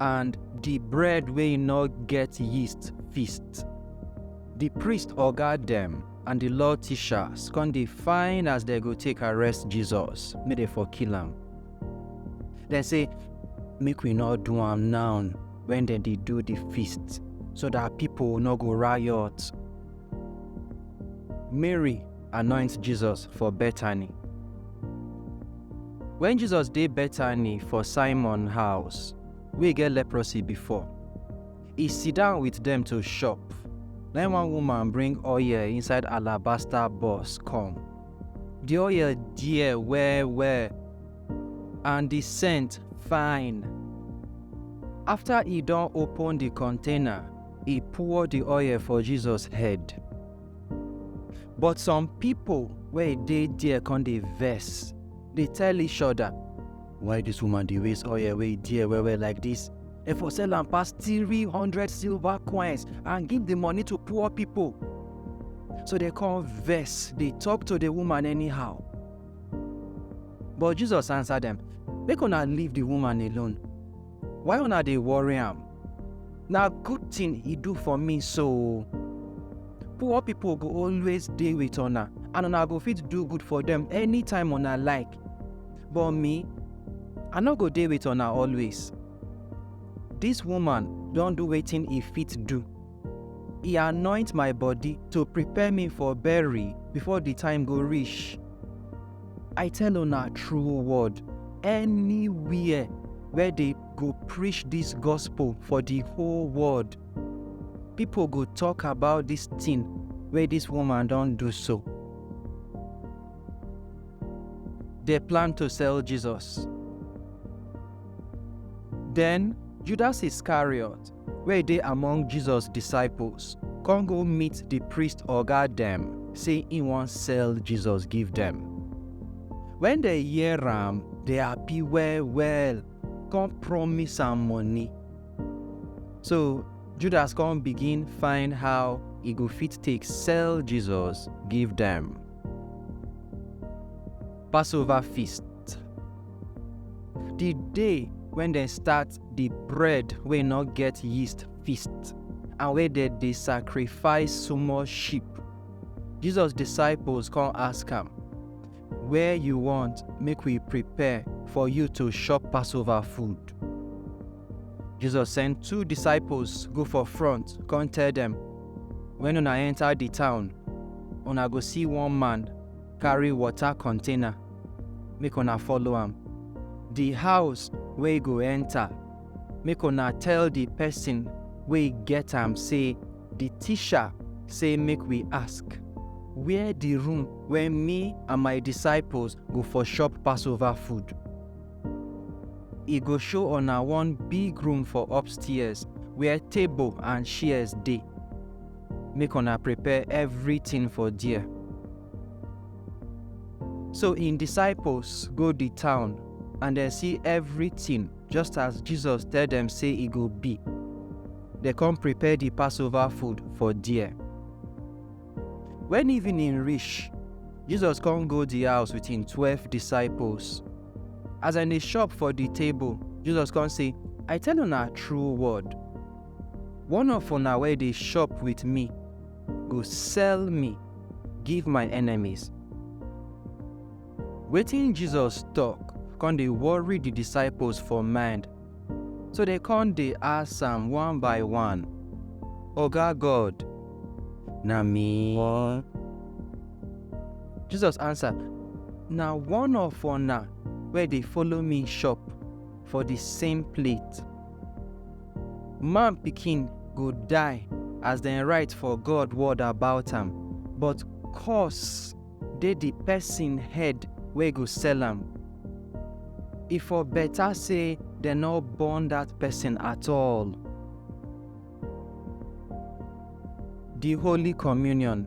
and di bread wey no get yeast feast. Di priest oga dem and di law teachers come dey find as dem go take arrest Jesus make dem for kill am. Dem say, Make we no do am now wen dem dey do di feast, so dat pipo no go riot. Mary anoint Jesus for Bethany. Wen Jesus dey Bethany for Simon house wey get leprosy before, e sidon wit dem to chop. Na im one woman bring oil inside alabaster box come. Di oil dear well well and di scent fine. After e don open di container, e pour di oil for Jesus head. but some pipo wey e dey there con dey vex dey tell each oda why dis woman dey waste oil wey e dear well well like dis e for sell am pass three hundred silver coins and give di money to poor pipo so dem con vex dey tok to di woman anyhow but jesus answer dem make una leave di woman alone Why una dey worry am? Na good thing he do for me so. Poor people go always dey with una and una go fit do good for them anytime una like. But me, I no go dey with una always. This woman don do wetin he fit do. E anoint my body to prepare me for bury before the time go reach. I tell una true word, anywhere where they go preach this gospel for the whole world, people go talk about this thing where this woman don't do so. They plan to sell Jesus. Then Judas Iscariot, wey dey among Jesus disciples come go meet di priest oga dem sey im wan sell Jesus give dem. Wen dem hear am, dem happy well-well come promise am money. So, Judas come begin find how e go fit take sell Jesus give dem. Passover Feast. Di day wen dem start the bread wey no get yeast feast and wey dem dey sacrifice small sheep. Jesus disciples come ask am, Where you want make we prepare for you to chop Passover food? Jesus send two disciples go for front, come tell dem, When una enter the town, una go see one man carry water container make una follow am the house wey go enter make una tell the person wey get am say the teacher say make we ask where the room wey me and my disciples go for chop passover food e go show una one big room for upstairs where table and chairs dey make una prepare everything for there. So im disciples go di town and dem see everything just as Jesus tell dem say e go be. Dem come prepare di Passover food for there. Wen evening reach, Jesus come go di house with im twelve disciples. As dem dey chop for di table, Jesus come say, I tell una true word, One of una wey dey chop with me go sell me give my enemies. Wetin Jesus talk come dey worry the disciples for mind, so they come dey ask am one by one, Oga God, na me? Jesus answer, Na one of una wey dey follow me chop for the same plate. Man Pikin go die as dem write for God word about am, but curse dey di pesin head wey go sell am. E for beta sey dem nor born dat pesin at all. Di Holy Communion.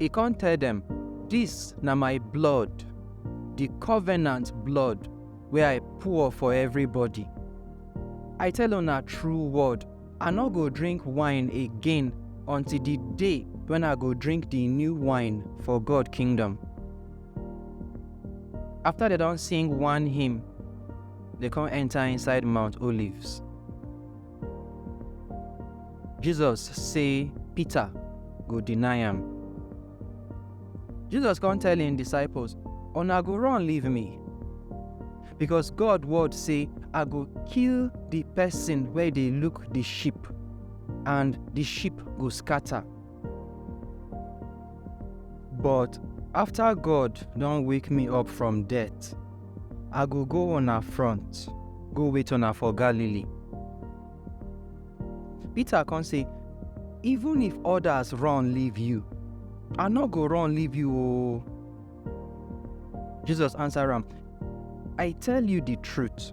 E come tell dem, Dis na my blood, di covenant blood wey I pour for everybody. I tell una true word, I no go drink wine again until di day wen I go drink di new wine for God kingdom. After dem don sing one hymn, dem come enter inside Mount Olives. Jesus say Peter go deny am. Jesus come tell im disciples, Una go run leave me. Because God word say, I go kill the person where they look the sheep, and the sheep go scatter. But after God don wake me up from death, I go go una front, go wait una for Galilee. Peter come say, even if others run leave you, I no go run leave you oo. Jesus answer am, I tell you the truth,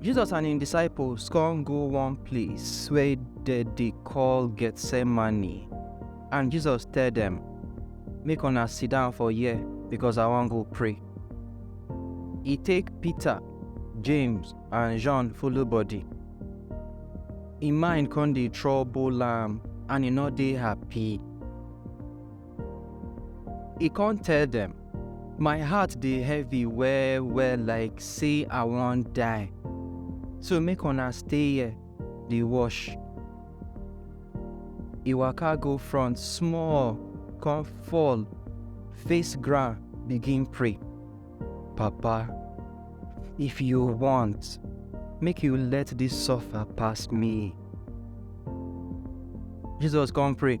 Jesus and im disciples come go one place wey dem dey call Gethsemane, and Jesus tell dem, Make una sit down for here because I wan go pray. E take Peter, James, and John follow body. Im mind come dey trouble am and e no dey happy. E come tell dem, My heart dey heavy well well like say I wan die, so make una stay here dey watch. E waka go front small come fall face ground begin pray, Papa, if you want, make you let dis suffer pass me. Jesus come pray,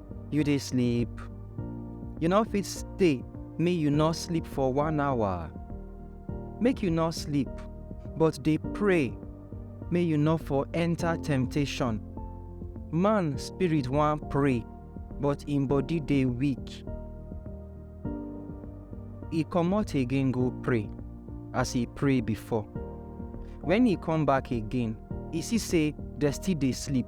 you dey sleep you no fit stay make you no sleep for one hour make you no sleep but dey pray make you no for enter temptation man spirit wan pray but im body dey weak e comot again go pray as e pray before when e come back again e see say dem still dey sleep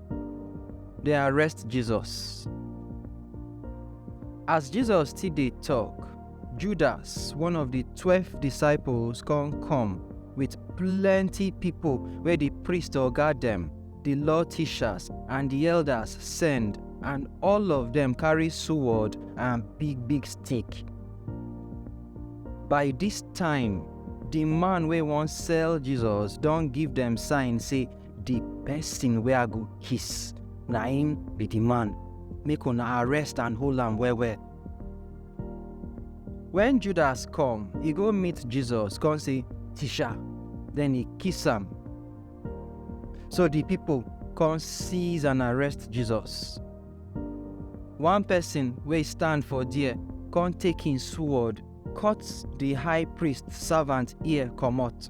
Dem arrest Jesus. As Jesus still dey talk, Judas, one of the twelve disciples, come come with plenty people wey the priest oga dem, the law teachers, and the elders send, and all of them carry sword and big big stick. By this time, the man wey wan sell Jesus don give them sign say the person wey I go kiss, na him be the man. Make una arrest and hold am well well. When Judas come, he go meet Jesus, come say, Teacher. Then he kiss am. So the people come seize and arrest Jesus. One person wey stand for there come take him sword, cut the high priest servant ear comot.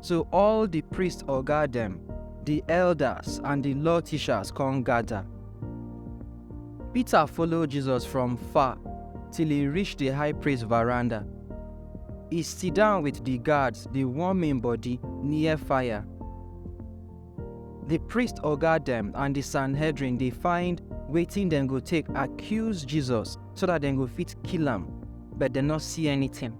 So all di priest oga dem, di elders, and di law teachers come gada. Peter follow Jesus from far till e reach di high priest veranda. E sidon wit di guards dey warm im body near fire. Di priest oga dem and di Sanhedrin dey find wetin dem go take accuse Jesus so dat dem go fit kill am, but dem no see anytin.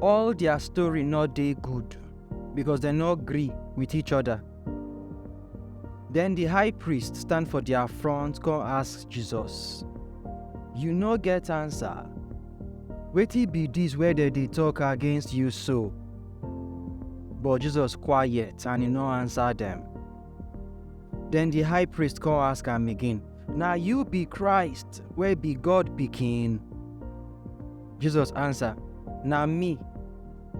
all their story no dey good because dem no gree with each other. Then the high priest stand for their front come ask Jesus, You no get answer? Wetin be this wey dem dey talk against you so? But Jesus quiet and he no answer them. Then the high priest come ask am again, Na you be Christ wey be God pikin? Jesus answer, Na me,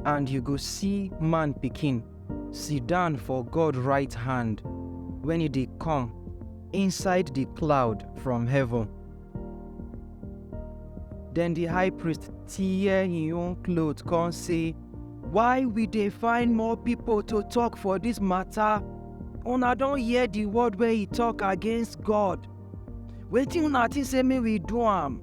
and you go see man pikin sit down for God right hand when he dey come inside the cloud from heaven. Then the high priest tear him own cloth come say, Why we dey find more people to talk for this matter? Una don hear the word wey he talk against God. Wetin una think say make we do am?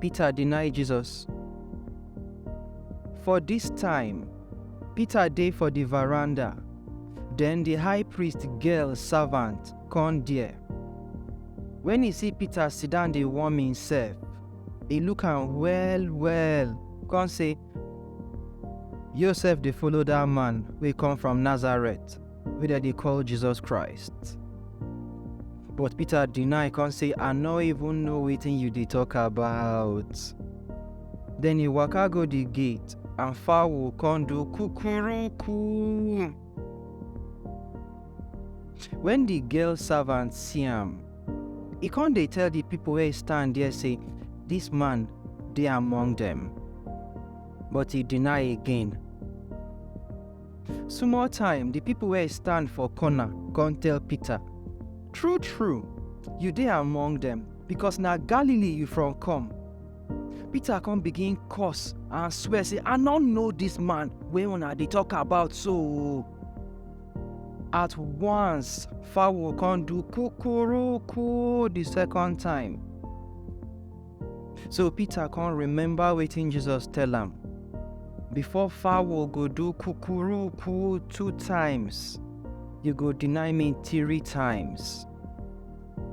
Peter deny Jesus. For dis time, Peter dey for di veranda, den di high priest girl servant come there. Wen e see Peter sidon dey warm imsef, e look am well-well come say, Yo sef dey follow dat man wey come from Nazareth. wey dem dey call Jesus Christ. But Peter deny come say, I no even know wetin you dey talk about. Then he waka go the gate and fowl come do kukuruku. When the girl servant see am, he come dey tell the people wey stand there say, This man dey among them. But he deny again Small time, the people wey stand for corner come tell Peter, True, true, you dey among them, because na Galilee you from come. Peter come begin curse and swear say, I no know this man wey una dey talk about so. At once, fowl come do kukuruku the second time. So Peter come remember wetin Jesus tell am. Before fowl go do kukuruku two times, you go deny me three times.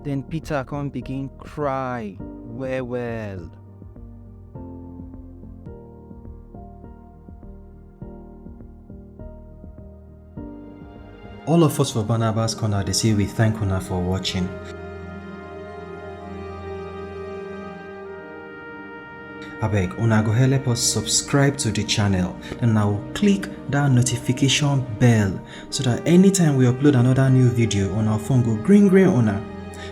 Then Peter come begin cry well well. All of us for Barnabas Corner, they say we thank una for watching. abeg una go help us subscribe to the channel and now click that notification bell so that anytime we upload another new video on our phone go green green una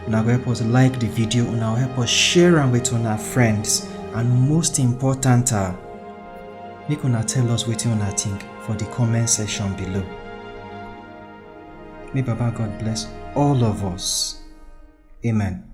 una go help us like the video una go help us share am with una friends and most important ah Make una tell us wetin una think for the comment section below. May Baba God bless all of us. Amen.